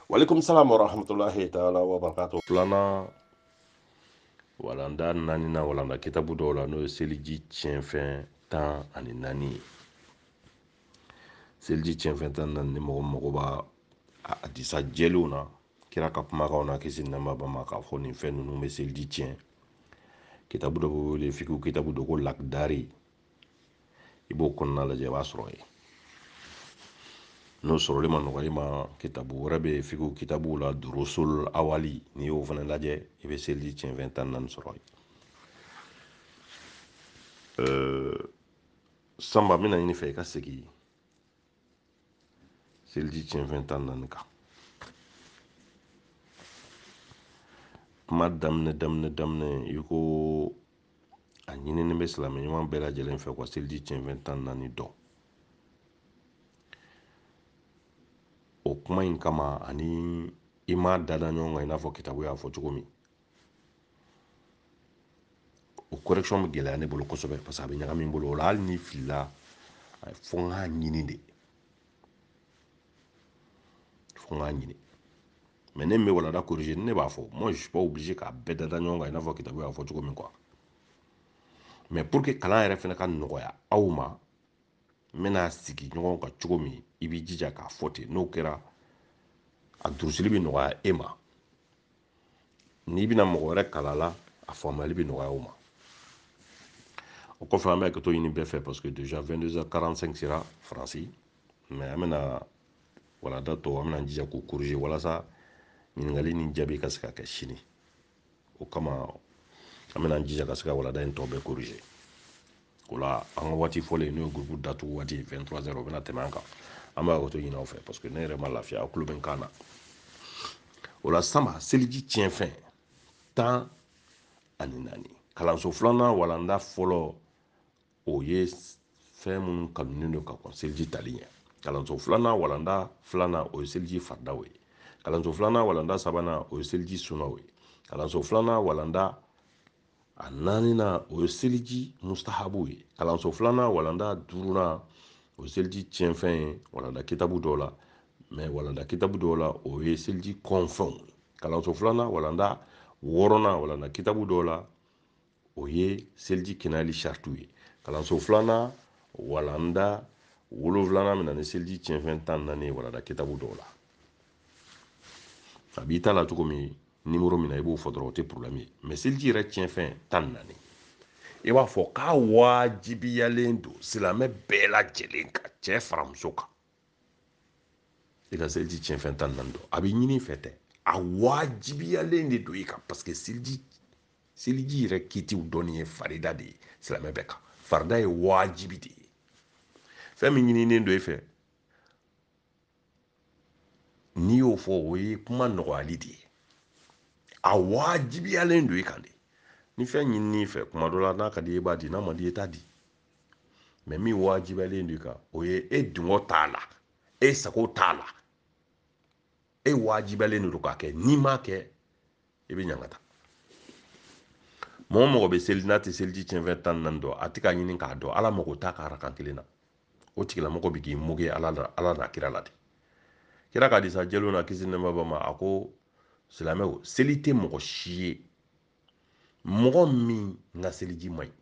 walekum salam wa rahmatullahi taala wa barakatuh filanan walanda naaninan walanda kitabu dɔw la n'o ye seliji tiɲɛfɛn tan ani naani ye seliji tiɲɛfɛn tan naani ni mɔgɔ mago b'a hadisa jɛlenw na kira ka kumakanw na kisi nɛɛma b'a ma k'a fɔ nin fɛn ninnu bɛ seliji tiɲɛ kitabu dɔ bɛ wele fikihu kitabu dɔ ko lakidari i b'o kɔnɔna lajɛ i b'a sɔrɔ yen n'o sɔrɔli ma nɔgɔ i ma kitabu wɛrɛ bɛ yen fikihu kitabuw la durusul awali n'i y'o fana lajɛ i bɛ seliji tiɲɛfɛn tan naani sɔrɔ yen sanba n bɛna ɲini i fɛ i ka segin seliji tiɲɛfɛn tan naani kan kuma daminɛ daminɛ daminɛ i ko a ɲininen bɛ silamɛ ɲuman bɛɛ lajɛlen fɛ ka seliji tiɲɛfɛn tan naani dɔn o kuma in kama ani i m'a dada ɲɔgɔn kan i n'a fɔ kitabu y'a fɔ cogo min o correction bɛ gɛlɛya ne bolo kosɛbɛ parce que a bɛ ɲagami n bolo o la hali n'i filila fo n k'a ɲini de fo n k'a ɲini mais ne min bɛ walanda corriger ne b'a fɔ moi je suis pas obligé k'a bɛɛ da da ɲɔgɔn kan i n'a fɔ kitabu y'a fɔ cogo min quoi mais pour que kalan yɛrɛ fana ka nɔgɔya aw ma n bɛna sigi ɲɔgɔn kan cogo min i b'i jija k'a fɔ ten n'o kɛra a durusili bɛ nɔgɔya e ma n'i bɛna mɔgɔ wɛrɛ kalan a la a faamuyali bɛ nɔgɔya o ma o kɔfɛ an bɛ hakɛto ɲini bɛɛ fɛ parce que déjà 22h45 sera faransi mais an bɛna walanda tɔ an bɛna jija k'u corriger walasa ɲininkali ni jaabi ka se ka kɛ sini o kama an bɛna jija ka se ka walanda in tɔ bɛɛ corriger o la an ka waati fɔlen n'o ye gurupu datugu waati ye 23h o bɛna tɛmɛ an kan an bɛ hakɛto ɲini aw fɛ parce que ne yɛrɛ ma lafiya aw tulo bɛ n kan na o la sanba seliji tiɲɛfɛn tan ani naani kalanso filanan walanda fɔlɔ o ye fɛn minnu kanunen don ka kɔn seliji tali ɲɛ kalanso filanan walanda filanan o ye seliji faridaw ye kalanso filanan walanda sabanan o ye seliji sunaw ye kalanso filanan walanda a naaninan o ye seliji mustahabu ye kalanso filanan walanda duurunan o ye seliji tiɲɛfɛn ye walanda kitabu dɔw la mais walanda kitabu dɔw la o ye seliji kɔnfɛnw ye kalanso filanan walanda wɔɔrɔnan walanda kitabu dɔw la o ye seliji kɛnɛyali saritiw ye kalanso filanan walanda wolonfilanan bɛ na ni seliji tiɲɛfɛn tan naani ye walanda kitabu dɔw la a b'i ta la cogo min nimoro min na i b'o fɔ dɔrɔn o tɛ porobilɛmu ye mɛ seliji yɛrɛ tiɲɛfɛn tan ni naani i b'a fɔ k'a wajibiyalen don silamɛ bɛɛ lajɛlen kan cɛ fara muso kan i ka seliji tiɲɛfɛn tan ni naani dɔn a bɛ ɲini i fɛ tɛ a wajibiyalen de don i kan paseke seliji seliji yɛrɛ kitiw dɔnni ye farida de ye silamɛ bɛɛ kan farida ye wajibi de ye fɛn min ɲininen don e fɛ n'i y'o fɔ o ye kuma nɔgɔyali de ye a wajibiyalen don i kan de ni fɛn ɲinin'i fɛ kuma dɔ la n'a ka di i b'a di n'a man di i t'a di mɛ min wajibiyalen don i kan o ye e dungɔ t'a la e sago t'a la e wajibiyalen don k'a kɛ n'i m'a kɛ i bɛ ɲangata mɔgɔ mɔgɔ bɛ seli n'a tɛ seliji cɛnfɛn tan ni naani dɔn a tɛ k'a ɲini k'a dɔn ala mago t'a ka arakan kelen na o tigilamɔgɔ bɛ k'i moke ala la ala n'a kira la de kira ka hadisa jɛlenw na kisi nɛɛma b'a ma a ko silamɛw seli tɛ mɔgɔ si ye mɔgɔ min ka seliji man ɲi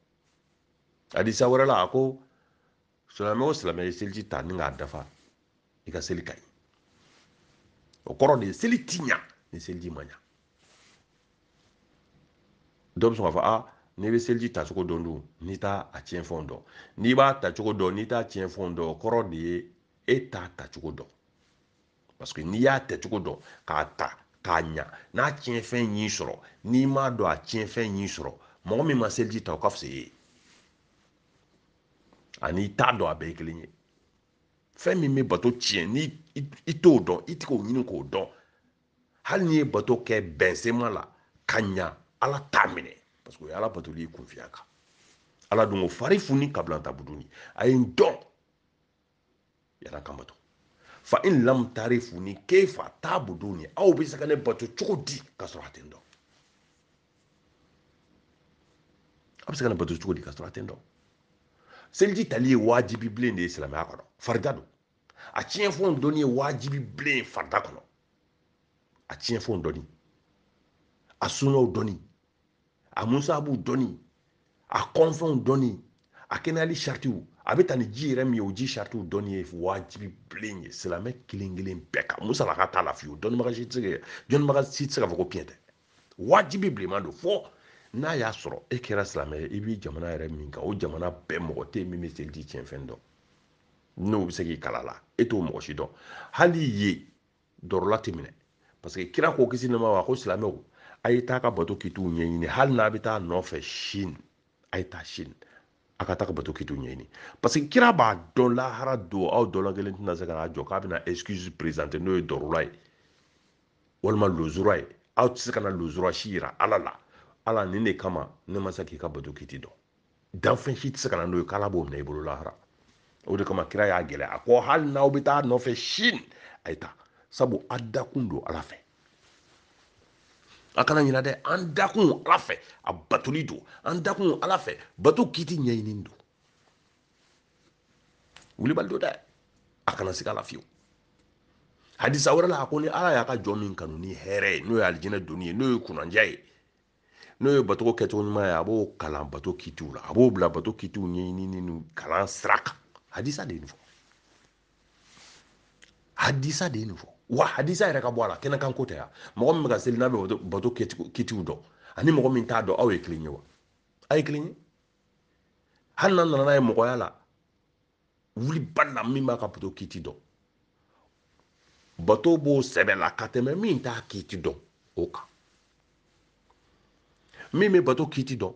hadisa wɛrɛ la a ko silamɛ o silamɛ ye seliji ta ni k'a dafa i ka seli ka ɲi o kɔrɔ de ye seli ti ɲa ni seliji ma ɲa dɔ bɛ sɔn k'a fɔ a n'i bɛ seliji ta cogo dɔn dun n'i t'a a tiɲɛfɛnw dɔn n'i b'a ta cogo dɔn n'i t'a tiɲɛfɛnw dɔn o kɔrɔ de ye e t'a ta cogo dɔn parce que n'i y'a ta cogo dɔn k'a ta k'a ɲa n'a tiɲɛfɛn y'i sɔrɔ n'i m'a dɔn a tiɲɛfɛn y'i sɔrɔ mɔgɔ min ma seliji ta o ka fisa i ye ani i t'a dɔn a bɛɛ ye kelen ye fɛn min bɛ bato tiɲɛ ni i t'o dɔn i tɛ k'o ɲini k'o dɔn hali n'i ye bato kɛ bɛnsema la ka ɲa ala t'a minɛ parce que o ye ala batoli ye kunfinya kan ala dun ko farifuni kabilan tabuduni a ye n dɔn yann'a ka n bato fa in lam tarifuni kefa tabuduni aw bɛ se ka ne bato cogo di ka sɔrɔ a tɛ n dɔn a bɛ se ka ne bato cogo di ka sɔrɔ a tɛ n dɔn seliji tali ye wajibi bilen de ye silamɛya kɔnɔ farida don a tiɲɛfɛnw dɔnni ye wajibi bilen ye farida kɔnɔ a tiɲɛfɛnw dɔnni a sunaw dɔnni a musabuw dɔnni a kɔnfɛnw dɔnni a kɛnɛyali saritiw a bɛ ta ni ji yɛrɛ min ye o ji saritiw dɔnni ye wajibi bilen ye silamɛ kelen kelen bɛɛ kan musalaka t'a la fiyewu dɔnnibaga si tɛ se ka dɔnnibaga si tɛ se k'a fɔ ko tiɲɛ tɛ wajibi bilenman don fɔ n'a y'a sɔrɔ e kɛra silamɛ ye i bɛ jamana yɛrɛ min kan o jamana bɛɛ mɔgɔ tɛ yen min bɛ seliji tiɲɛfɛn dɔn n'o bɛ se k'i kalan a la e t'o mɔgɔ si dɔn hali ye dɔrɔla tɛ minɛ parce que kira ko kisi nɛma wa ko silamɛw a ye taa ka bato kitiw ɲɛɲini hali n'a bɛ taa nɔfɛ sini a ye taa sini a ka taa ka bato kitiw ɲɛɲini parce que kira b'a dɔn lahara don aw dɔla kelen tɛna se ka n'a jɔ k'a bɛna excuse présenter n'o ye dɔrɔla ye walima lozura ye aw tɛ se ka na lozura si yira ala la ala nin de kama ne ma se k'i ka bato kiti dɔn danfɛn si tɛ se ka na n'o ye k'ala b'o minɛ i bolo lahara o de kama kira y'a gɛlɛya a ko hali n'aw bɛ taa nɔfɛ sini a ye taa sabu a dakun don ala fɛ a kana ɲina dɛ an dakun ala fɛ a batoli don an dakun ala fɛ bato kiti ɲɛɲini don wulibali don dɛ a kana sika a la fiyewu hadisa wɛrɛ la a ko ni ala y'a ka jɔn min kanu ni hɛrɛ ye n'o ye alijinɛ donni ye n'o ye kunandiya ye n'o ye bato kɛcogo ɲuman ye a b'o kalan bato kitiw la a b'o bila bato kitiw ɲɛɲinini ni kalan sira kan hadisa de ye nin fɔ hadisa de ye nin fɔ wa hadisa yɛrɛ ka bɔ a la kɛnɛkan ko tɛ yan mɔgɔ min bɛ ka seli n'a bɛ bato kitiw dɔn ani mɔgɔ min t'a dɔn aw ye kelen ye wa aw ye kelen ye hali n'a nana n'a ye mɔgɔya la wulibali la min b'a ka bato kiti dɔn bato b'o sɛbɛ la ka tɛmɛ min t'a kiti dɔn o kan min bɛ bato kiti dɔn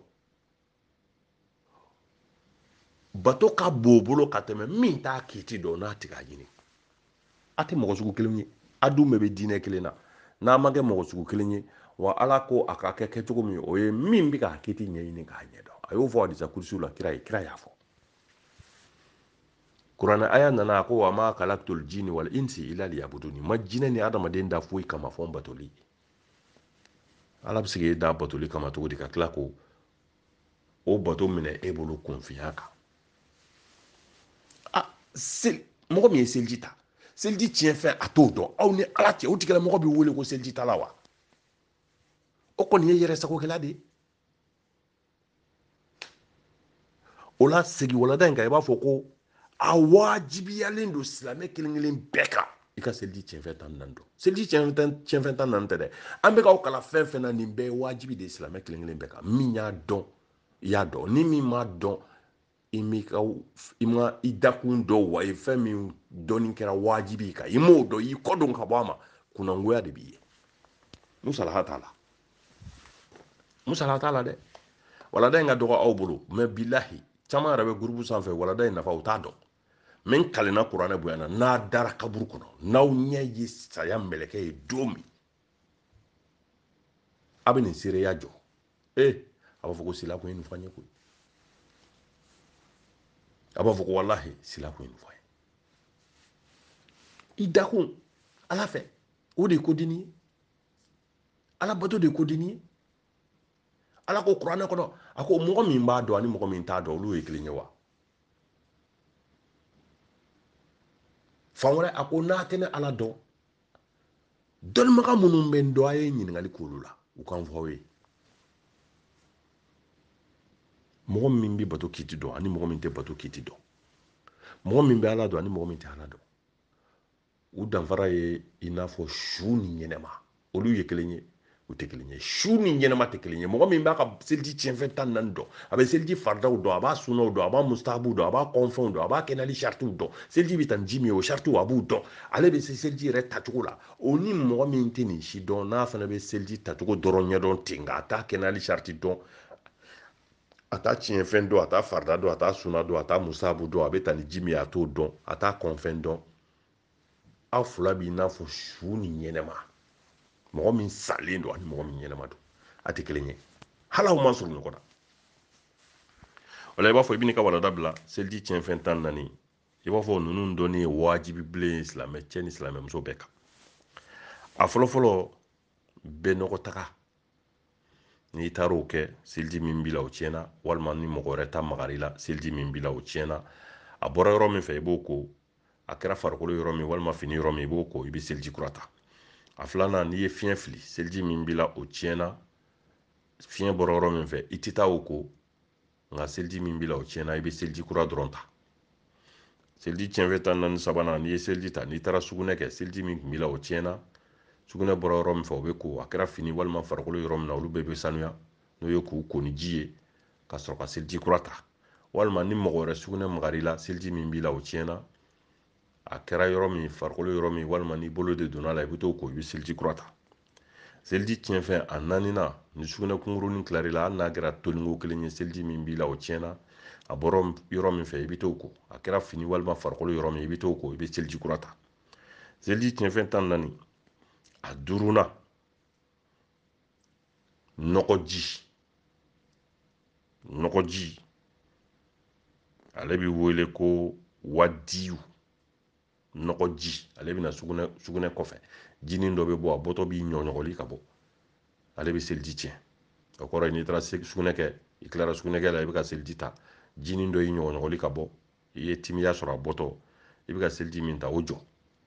bato ka bon o bolo ka tɛmɛ min t'a kiti dɔn n'a tɛ k'a ɲini a tɛ mɔgɔ sugu kelen ye a dun bɛɛ bɛ diinɛ kelen na n'a ma kɛ mɔgɔ sugu kelen ye wa ala ko a ka kɛ kɛcogo min o ye min bɛ k'a kiti ɲɛɲini k'a ɲɛdɔn a y'o fɔ hadisa kurusiw la kira ye kira y'a fɔ kuranɛ aya nana a ko wa ma kalaktul jini wal insi ila liyabuduni n ma jinɛ ni adamaden da foyi kama fɔ n batoli ala bɛ se k'e da batoli kama cogo di ka tila ko o bato minɛ e bolo kunfiya kan a seli mɔgɔ min ye seliji ta seliji tiɲɛfɛn a t'o dɔn aw ni ala cɛ o tigila mɔgɔ bɛ wele ko seliji tala wa o kɔni ye yɛrɛ sagokɛla de ye o la segin walada in kan i b'a fɔ ko a wajibiyalen don silamɛ kelen kelen bɛɛ kan i ka seliji tiɲɛfɛn tan naani dɔn seliji tiɲɛfɛn tan naani tɛ dɛ an bɛ k'aw kalan fɛn fɛn na nin bɛɛ ye wajibi de ye silamɛ kelen kelen bɛɛ kan min y'a dɔn i y'a dɔn ni min m'a dɔn i m'i ka i ma i dakun dɔn wa i fɛn min dɔnni kɛra wajibi kan i m'o dɔn i kɔdon ka bɔ a ma kunangoya de b'i ye musalaha t'a la musalaha t'a la dɛ walada in ka dɔgɔ aw bolo mais bilahi caman yɛrɛ bɛ gurupu sanfɛ walada in nafa u t'a dɔn mais n kalenna kuranɛ bonya na n'a dara kaburu kɔnɔ n'aw ɲɛ ye saya mɛlɛkɛ ye don min a bɛ nin seereya jɔ ee a b'a fɔ ko sila kun ye nin fɔ n ye koyi a b'a fɔ ko walahi sila kun ye nin fɔ n ye i dakun ala fɛ o de ye kodini ye ala bato de ye kodini ye ala ko kuranɛ kɔnɔ a ko mɔgɔ min b'a dɔn ani mɔgɔ min t'a dɔn olu ye kelen ye wa fan wɛrɛ a ko n'a tɛ ne ala dɔn dɔnnibaga minnu bɛ n dɔn a ye ɲininkali k'olu la u ka n fɔ aw ye mɔgɔ min bɛ bato kiti dɔn ani mɔgɔ min tɛ bato kiti dɔn mɔgɔ min bɛ ala dɔn ani mɔgɔ min tɛ ala dɔn u danfara ye i n'a fɔ su ni ɲɛnɛma olu ye kelen ye u tɛ kelen ye su ni ɲɛnama tɛ kelen ye mɔgɔ min b'a ka seliji tiɲɛfɛn tan naani dɔn a bɛ seliji faridaw dɔn a b'a sunnaw dɔn a b'a mustahabuw dɔn a b'a kɔnfɛnw dɔn a b'a kɛnɛyali saritiw dɔn seliji bɛ ta ni ji min ye o saritiw a b'u dɔn ale bɛ se seliji yɛrɛ tacogo la o ni mɔgɔ min tɛ nin si dɔn n'a fana bɛ seliji tacogo dɔrɔn ɲɛdɔn ten nka a t'a kɛnɛyali sariti dɔn a t'a tiɲɛfɛn dɔn a t'a farida dɔn a t'a sunna dɔn a t'a mustahabu dɔn a bɛ ta ni ji min ye a t'o dɔn a t'a kɔnfɛn dɔn aw fila b'i n'a fɔ su ni ɲɛnɛma mɔgɔ min salen don ani mɔgɔ min ɲɛnɛma don a tɛ kelen ye hali aw man surun ɲɔgɔn na o la i b'a fɔ i bɛ n'i ka walanda bila seliji tiɲɛfɛn tan naani i b'a fɔ ninnu dɔnni ye wajibi bilen ye silamɛcɛ ni silamɛmuso bɛɛ kan a fɔlɔfɔlɔ banakɔtaga n'i taara o kɛ seliji min b'i la o tiɲɛna walima ni mɔgɔ wɛrɛ ta magar'i la seliji min b'i la o tiɲɛna a bɔra yɔrɔ min fɛ i b'o ko a kɛra farikolo yɔrɔ min walima fini yɔrɔ min i b'o ko i bɛ seliji kura ta a filanan n'i ye fiɲɛ fili seliji min b'i la o tiɲɛna fiɲɛ bɔra yɔrɔ min fɛ i tɛ taa o ko nka seliji min b'i la o tiɲɛna i bɛ seliji kura dɔrɔn ta seliji tiɲɛfɛn tan naani sabanan n'i ye seliji ta n'i taara sugunɛ kɛ seliji min tun b'i la o tiɲɛna sugunɛ bɔra yɔrɔ min fɛ o bɛ ko a kɛra fini walima farikolo yɔrɔ min na olu bɛɛ bɛ sanuya n'o ye k'u ko ni ji ye ka sɔrɔ ka seliji kura ta walima ni mɔgɔ wɛrɛ sugunɛ magar'i la seliji min b'i la o tiɲɛna a kɛra yɔrɔ min farikolo yɔrɔ min walima n'i bolo de donn'a la i bɛ t'o ko i bɛ seliji kura ta seliji tiɲɛfɛn a naaninan ni sugunɛ kunkurunin tilar'i la hali n'a kɛra toniko kelen ye seliji min b'i la o tiɲɛna a bɔra yɔrɔ min fɛ i bɛ t'o ko a kɛra fini walima farikolo yɔrɔ min i bɛ t'o ko i bɛ seliji kura ta seliji tiɲɛfɛn tan naani a duurunan nɔgɔji nɔgɔji ale bɛ wele ko wadiyu nɔgɔji ale bɛ na sugunɛ kɔfɛ jinin dɔ bɛ bɔ a bɔtɔ b'i ɲɔgɔɲɔgɔli ka bɔ ale bɛ seliji tiɲɛ o kɔrɔ ye n'i taara sugunɛ kɛ i tilara sugunɛ kɛ la i bɛ ka seliji ta jinin dɔ y'i ɲɔgɔɲɔgɔli ka bɔ i ye timiya sɔrɔ a bɔtɔ i bɛ ka seliji min ta o jɔ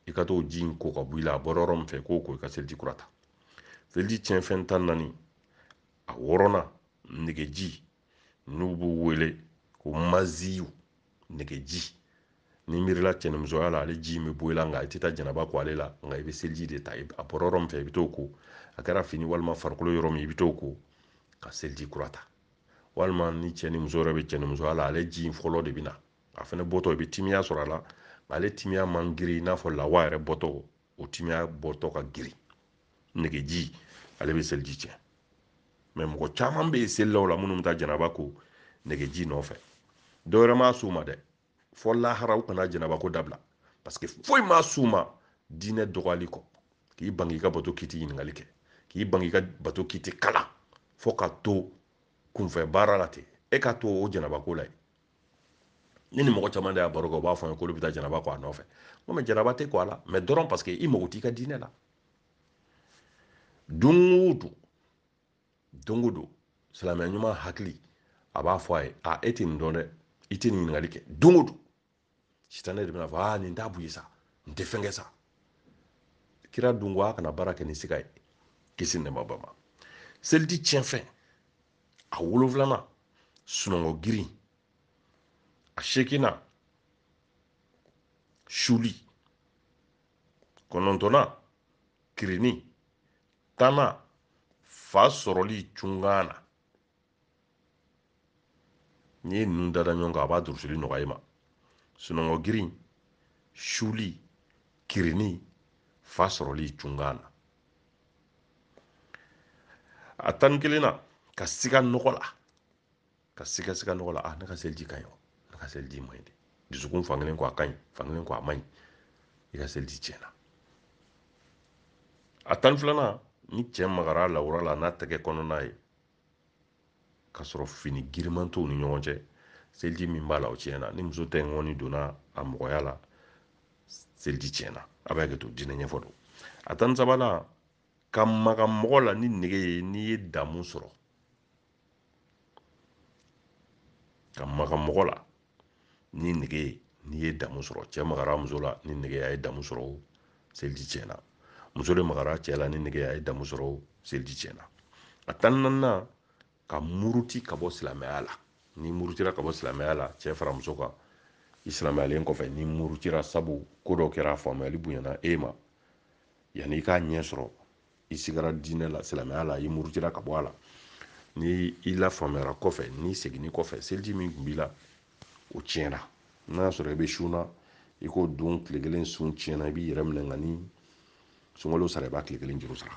i ka t'o ji in ko ka bɔ i la a bɔra yɔrɔ min fɛ k'o ko i ka seliji kura ta seliji tiɲɛfɛn tan naani a wɔɔrɔnan negeji n'u b'o wele ko maziyu negeji n'i miirila cɛnimusoya la ale ji in bɛ bɔ i la nka i tɛ taa janaba ko ale la nka i bɛ seliji de ta a bɔra yɔrɔ min fɛ i bɛ t'o ko a kɛra fini walima farikolo yɔrɔ min i bɛ t'o ko ka seliji kura ta walima ni cɛ ni muso yɛrɛ bɛ cɛnimusoya la ale ji in fɔlɔ de bɛ na a fana bɔtɔ i bɛ timiya sɔrɔ a la ale timiya man girin i n'a fɔ lawa yɛrɛ bɔtɔ o timiya bɔtɔ ka girin negeji ale bɛ seliji tiɲɛ mais mɔgɔ caman bɛ yen selilaw la minnu bɛ taa janaba ko negeji nɔfɛ dɔwɛrɛ m'a s'u ma dɛ fo lahara u kana janaba ko dabila parce que foyi m'a s'u ma diinɛ dɔgɔyali kɔ k'i ban k'i ka bato k'i tɛ ɲininkali kɛ k'i ban k'i ka bato k'i tɛ kalan fo ka to kunfɛ baara la ten e ka to o janaba ko la yen ne ni mɔgɔ caman de y'a baro kɛ u b'a fɔ n ye k'olu bɛ taa janaba ko a nɔfɛ n ko mais janaba tɛ ko a la mais dɔrɔn parce que i mago t'i ka diinɛ la don o don don o don silamɛ ɲuman hakili a b'a fɔ a ye a e tɛ nin dɔn dɛ i tɛ nin ɲininkali kɛ don o don sitanɛ de bɛna fɔ aa nin t'a bɔ yen sa nin tɛ fɛn kɛ sa kira dun ko a kana baara kɛ ni siga ye kisi nɛɛma b'a ma seliji tiɲɛfɛn a wolonfilanan sunɔgɔ girin a seeginnan suli kɔnɔntɔnnan kirinni tannan fa sɔrɔli cunkan na n'i ye ninnu dada ɲɔgɔn kan a b'a durusili nɔgɔya i ma sunɔgɔ girin suli kirinni fa sɔrɔli cunkan na a tan ni kelennan ka siga nɔgɔ la ka siga siga nɔgɔ la a ah, ne ka seliji ka ɲi wa ne ka seliji man ɲi dɛ dusukun fankelen ko a ka ɲi fankelen ko a man ɲi i ka seliji tiɲɛna a tan filanan ni cɛ magara a lawura la n'a tɛgɛ kɔnɔna ye k'a sɔrɔ fini giriman t'u ni ɲɔgɔn cɛ seliji min b'a la o tiɲɛna ni muso tɛgɛkɔni donna a mɔgɔya la seliji tiɲɛna a bɛ hakɛ to diinɛ ɲɛfɔ don a tan ni sabanan ka maga mɔgɔ la ni nege ye n'i ye damu sɔrɔ ka maga mɔgɔ la ni nege ye n'i ye damu sɔrɔ cɛ magara muso la ni nege a ye damu sɔrɔ o seliji tiɲɛna muso de magara cɛ la ni nege a ye damu sɔrɔ o seliji tiɲɛna a tan naaninan ka muruti ka bɔ silamɛya la n'i murutira ka bɔ silamɛya la cɛ fara muso kan i silamɛyalen kɔfɛ n'i murutira sabu ko dɔ kɛra a faamuyali bonyana e ma yanni i k'a ɲɛ sɔrɔ i sigara diinɛ la silamɛya la i murutira ka bɔ a la ni i lafaamuyara kɔfɛ n'i seginni kɔfɛ seliji min tun b'i la o tiɲɛna n'a y'a sɔrɔ i bɛ sun na i k'o don tile kelen sun tiɲɛna i b'i yɛrɛ minɛ nka ni sunkalo sara i b'a tile kelen juru sara